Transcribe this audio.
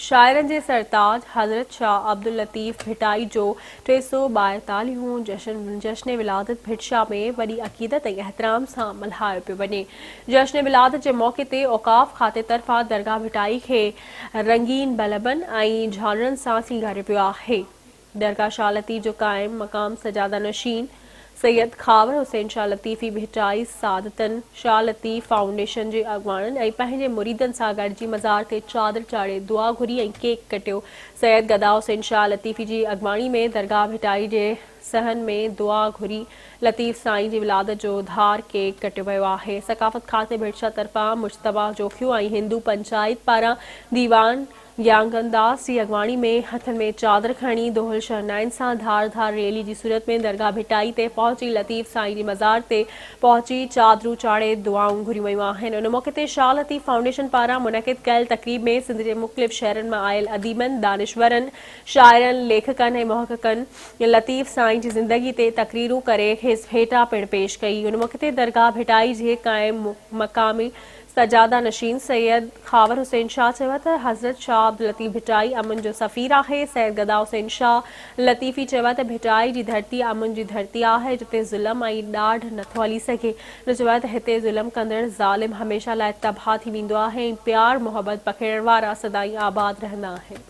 شاعرن جي سرتاج حضرت شاهه عبداللطيف ڀٽائي جو ٽي سؤ ٻائيتاليهون هون جشن جشن ولادت ڀٽشاهه ۾ وڏي عقيدت ۽ احترام سان ملهايو پيو وڃي جشن ولادت جي موقعي تي اوقاف کاتي طرفان درگاهه ڀٽائي کي رنگين بلبن ۽ جهانڙن سان سينگاريو ويو آهي درگاهه شاهه لطيف جو قائم مقام سجاده نشين سيد خاور حسين شاهه لطيفي ڀٽائي سعادتن شاهه لطيف فائونڊيشن جي اڳواڻن ۽ پنهنجي مريدن سان گڏجي مزار تي چادر چاڙهي دعا گهري ۽ ڪيڪ ڪٽيو سيد گدا حسين شاهه لطيفي جي اڳواڻي ۾ درگاهه ڀٽائي جي صحن ۾ دعا گهري لطيف سائين جي ولادت جو ڌار ڪيڪ ڪٽيو ويو آهي ثقافت کاتي ڀٽ شاهه طرفان مجتبا جوکيو ۽ هندو پنچائت پاران ديوان يانگن داس جي اڳواڻي ۾ هٿن ۾ چادر کڻي دهل شهنائين سان ڌار ڌار ريلي جي صورت ۾ درگاهه ڀٽائي تي پهچي لطيف سائين جي مزار تي پهچي چادرون چاڙهي دعائون گهريون ويون آهن ان موقعي تي شاهه لطيف فائونڊيشن پاران منعقد ڪيل تقريب ۾ سنڌ جي مختلف شهرن مان آيل اديبن دانشورن شاعرن ليکڪن ۽ محققن لطيف سائين جي زندگي تي تقريرون ڪري کيس ڀيٽا پڻ پيش ڪئي ان موقعي تي درگاهه ڀٽائي جي قائم مقامي سجاده نشين سيد خاور حسين شاهه چيو ته حضرت شاهه عبداللطيف ڀٽائي امن جو سفير آهي، سيد گدا حسين شاهه لطيفي چيو ته ڀٽائي جي ڌرتي امن جي ڌرتي آهي جتي ظلم ۽ ڏاڍ نٿو هلي سگهي، هن چيو ته هتي ظلم ڪندڙ ظالم هميشه لاء تباهه ٿي ويندو آهي ۽ پيار محبت پکيڙڻ وارا سدائين آباد رهندا آهن.